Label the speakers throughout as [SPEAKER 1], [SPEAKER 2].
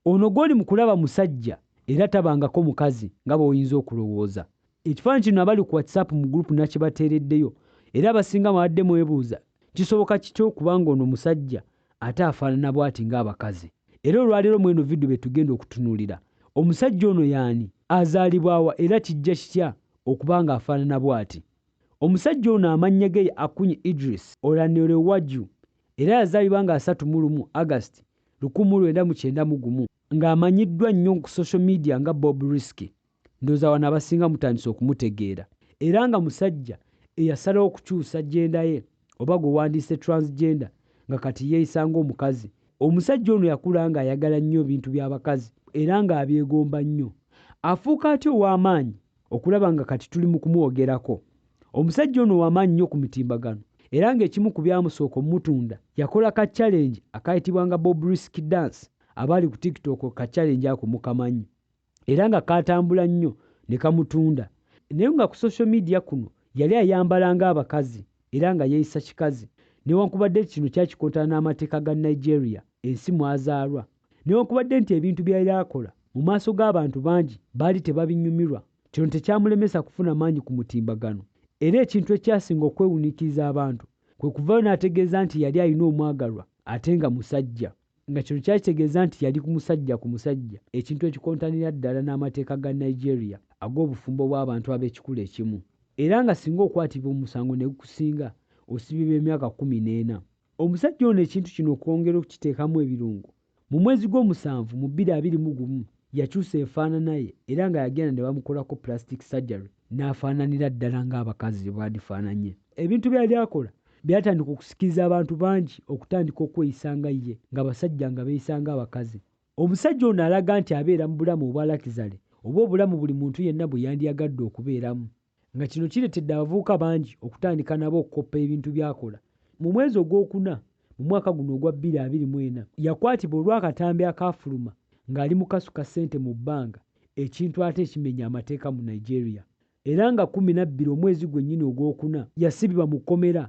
[SPEAKER 1] Ono gwoli mu kulaba musajja era tabangako mukazi nga bw'oyinza okulowooza. Ekifaananyi kino abali ku WhatsApp mu group nakibateereddeyo era abasinga mwabadde mwebuuza kisoboka kitya okuba nga ono musajja ate afaanana bwati nga abakazi. Era olwaleero mweno video byetugenda okutunuulira. Omusajja ono yaani, azaalibwa wa era kijja kitya okuba nga afaanana bwati. Omusajja ono amannya ge ye Akuny Idris Olanirewaju era yazaalibwa nga asatu mu lumu August lukumu mu lwenda mu kyenda mu gumu nga amanyiddwa nnyo ku social media nga Bob Risky ndowooza wano abasinga mutandise okumutegeera era nga musajja eyasalawo okukyusa gender ye oba gwe wandiyise transgender nga kati yeeyisa ng'omukazi. Omusajja ono yakula nga ayagala nnyo ebintu by'abakazi era nga abyegomba nnyo. Afuuka atya ow'amaanyi okulaba nga kati tuli mu kumwogerako. Omusajja ono w'amaanyi nnyo ku mitimbagano era ng'ekimu ku byamusooka omutunda yakola ka challenge akaayitibwanga Bob Risk Dance abaali ku TikTok ka challenge ako mukamanyi era nga kaatambula nnyo ne kamutunda naye nga ku social media kuno yali ayambala ng'abakazi era nga yeeyisa kikazi newankubadde nti kino kyakikontana n'amateeka ga Nigeria ensi mw'azaalwa. Newankubadde nti ebintu by'ayali akola mu maaso g'abantu bangi baali tebabinyumirwa, kino tekyamulemesa kufuna maanyi ku mutimbagano. Era ekintu ekyasinga okwewuniikiriza abantu kwe kuvaayo n'ategeeza nti yali alina omwagalwa ate nga musajja, nga kino kyali kitegeeza nti yali ku musajja ku musajja, ekintu ekikontanira ddala n'amateeka ga Nigeria ag'obufumbo bw'abantu ab'ekikula ekimu, era nga singa okwatibwa omusango ne gukusinga osibibwa emyaka kkumi n'ena. Omusajja ono ekintu kino okwongera okukiteekamu ebirungo, mu mwezi gw'omusanvu mu bbiri abiri mu gumu yakyusa enfaanana ye era nga yagenda ne bamukolako plastic surgery n'afaananira ddala ng'abakazi bye bandifaananye. Ebintu bye yali akola byatandika okusikiriza abantu bangi okutandika okweyisa nga ye ng'abasajja nga beeyisa ng'abakazi. Omusajja ono alaga nti abeera mu bulamu obwa lakizale oba obulamu buli muntu yenna bwe yandiyagadde okubeeramu. nga kino kiretedde abavubuka bangi okutandika nabo okukoppa ebintu byakola. Mu mwezi ogw'okuna mu mwaka guno ogwa bbiri abiri mu ena, yakwatibwa olw'akatambi akaafuluma ng'ali mu kasuka ssente mu bbanga ekintu ate ekimenya amateeka mu Nigeria era nga kkumi na bbiri omwezi gwennyini ogw'okuna yasibibwa mu kkomera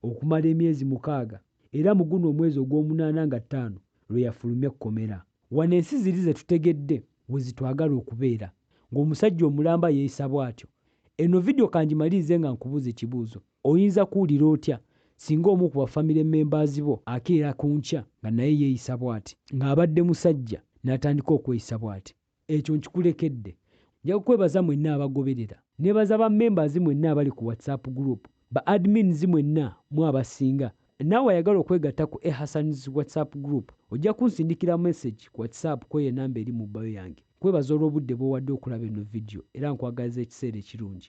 [SPEAKER 1] okumala emyezi mukaaga era mu guno omwezi ogw'omunaana nga ttaano lwe yafulumye ekkomera. Wano ensi ziri ze tutegedde we zitwagala okubeera, ng'omusajja omulamba yeeyisa bw'atyo. Eno vidiyo ka ngimalirize nga nkubuuza ekibuuzo, Oyinza kuwulira otya singa omu ku bafamire mmembaazi bo akeera ku nkya nga naye yeeyisa bw'ati, ng'abadde musajja n'atandika okweyisa bw'ati? Ekyo nkikulekedde. Nja kukwebaza mwenna abagoberera. Nneebaza ba mmembaazi mwenna abali ku WhatsApp Group, ba admins mwenna mu abasinga, Naawe ayagala okwegatta ku A Hassan's WhatsApp Group, ojja kunsindikira message ku WhatsApp kw'eyo enamba eri mu bio yange. Nkwebaza olw'obudde bw'owadde okulaba eno vidiyo era nkwagaliza ekiseera ekirungi.